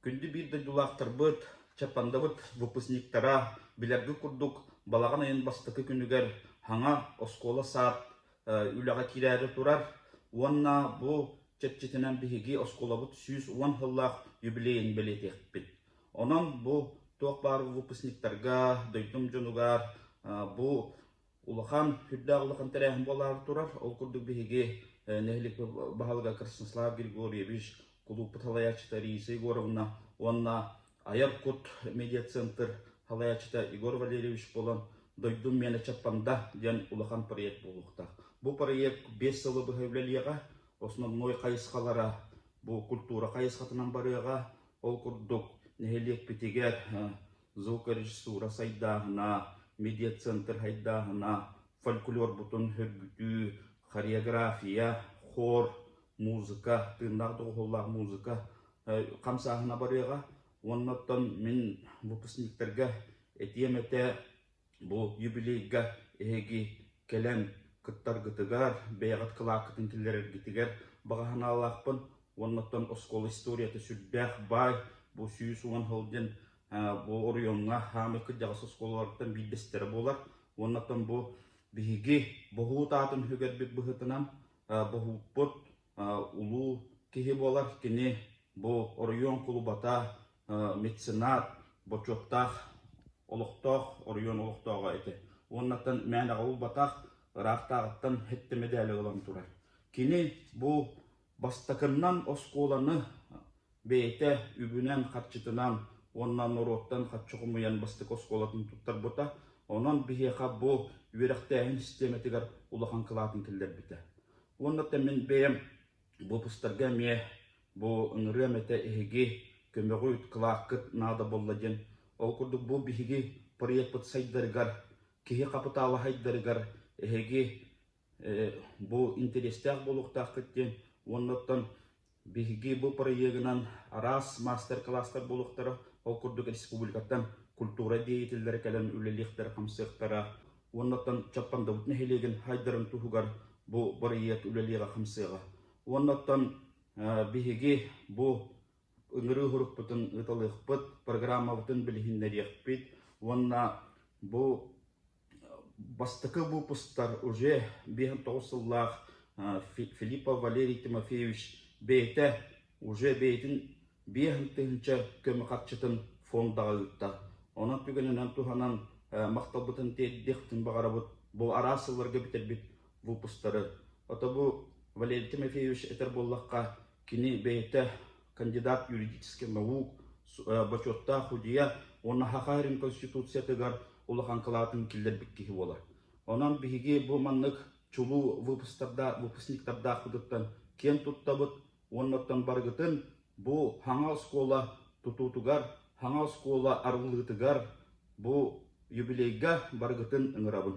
Күндү биир дойдулаахтарбыт, Чапандабыт выпускниктара, билэргит курдук, балаҕан ыйын бастакы күнүгэр хаҥа оскуола-саад үлэҕэ киирээри турар уонна бу чэрчитинэн биһиги оскуолабыт сүүс уон сыллаах юбилейын бэлиэтиэхпит. Онон бу туох баар выпускниктарга, дойдум дьонугар бу улахан, үрдээх улахан тэрээһин буолаары турар. Ол курдук биһиги нэһилик баһылыга Краснослав Григорьевич, кулууппут салайааччыта Риса Егоровна уонна Айар кут медиацентр салайааччыта Егор Валерьевич буолан «Дойдум миэнэ чаппанда» диэн улахан проект буолуохтаах. Бу проект биэс сылы быһа үлэлиэҕэ, основной хайысхалара бу культура хайысхатынан барыаҕа. Ол курдук нэһилиэкпитигэр звукорежиссура сайдааһына, медиацентр сайдааһына, фольклорбутун сөргүтүү, хореография, хор, музыка, тыыннаах доҕуһуоллаах музыка хамсааһына барыаҕа. Уонна оттон мин выпускниктарга этиэм этэ, Бу юбилейга эһиги кэлэн кыттаргытыгар, бэйэҕит кылааккытын киллэрэргитигэр баҕа санаалаахпын уонна оттон оскуола историята сүрдээх баай. Бу сүүс уон сыл диэн бу оройуоҥҥа саамай кырдьаҕас оскуолаларыттан биирдэстэрэ буолар. Уонна оттон бу биһиги боһуут аатын үһүгэрбит быһыытынан боһууппут улуу киһи буолар кини бу оройуон кулубата меценат бочуоттаах олохтоох оройуон олохтооҕо этэ уоннаттан мээн аҕа булбатах ыраахтааҕыттан хэттэ мэдээлэ ылан турар кини бу бастакыннан оскуоланы бэйэтэ үбүнэн харчытынан уонна норуоттан харчы хомуйан бастакы оскуолатын туттарбыта онон биһиэхэ бу үөрэхтээһин систиэмэтигэр улахан кылаатын киллэрбитэ Уонна мин бэйэм выпустарга эмиэ бу ыҥырыам этэ эһиги көмөҕү кылааккыт наада буолла диэн. Ол курдук бу биһиги проекпыт сайдарыгар, киһи хапытаалаһайдарыгар эһиги бу интэриэстээх буолуохтааххыт диэн уонна оттон Биһиги бу проегынан араас маастар-кылаастар буолуохтара, ол курдук республикаттан культура деятеллэрэ кэлэн үлэлиэхтэрэ хамсыахтара уоннаттан Чаппандабыт нэһилиэгин хайдарын туһугар бу бырайыак үлэлиэҕэ хамсыаҕа. Уоннаттан биһиги бу ыҥырыы урукпутун ыыталыахпыт, программабытын билиһиннэриэхпит уонна бу Бастакы выпустар уже биэһин тоҕус сыллаах Филиппов Валерий Тимофеевич бэйэтэ уже бэйэтин биэһин тыһыынча көмө харчытын фондаҕа ыытта. Онон түгэнинэн туһанан махталбытын тиэрдиэхпитин баҕарабыт бу араас сылларга бүтэрбит выпустары. Ото бу Валерий Тимофеевич этэр буоллахха Кини бэйэтэ кандидат юридическай наук, бочуоттаах судьуйа уонна Хахарин Конституциятыгар улахан кылаатын киллэрбит киһи буолар. Онон биһиги бу маннык чулуу выпускардаах, выпускниктардаахпытыттан киэн туттабыт уоннаттан барыгытын бу хаҥа оскуола тутуутугар, хаҥа оскуола арыллыытыгар, бу юбилейга барыгытын ыҥырабын.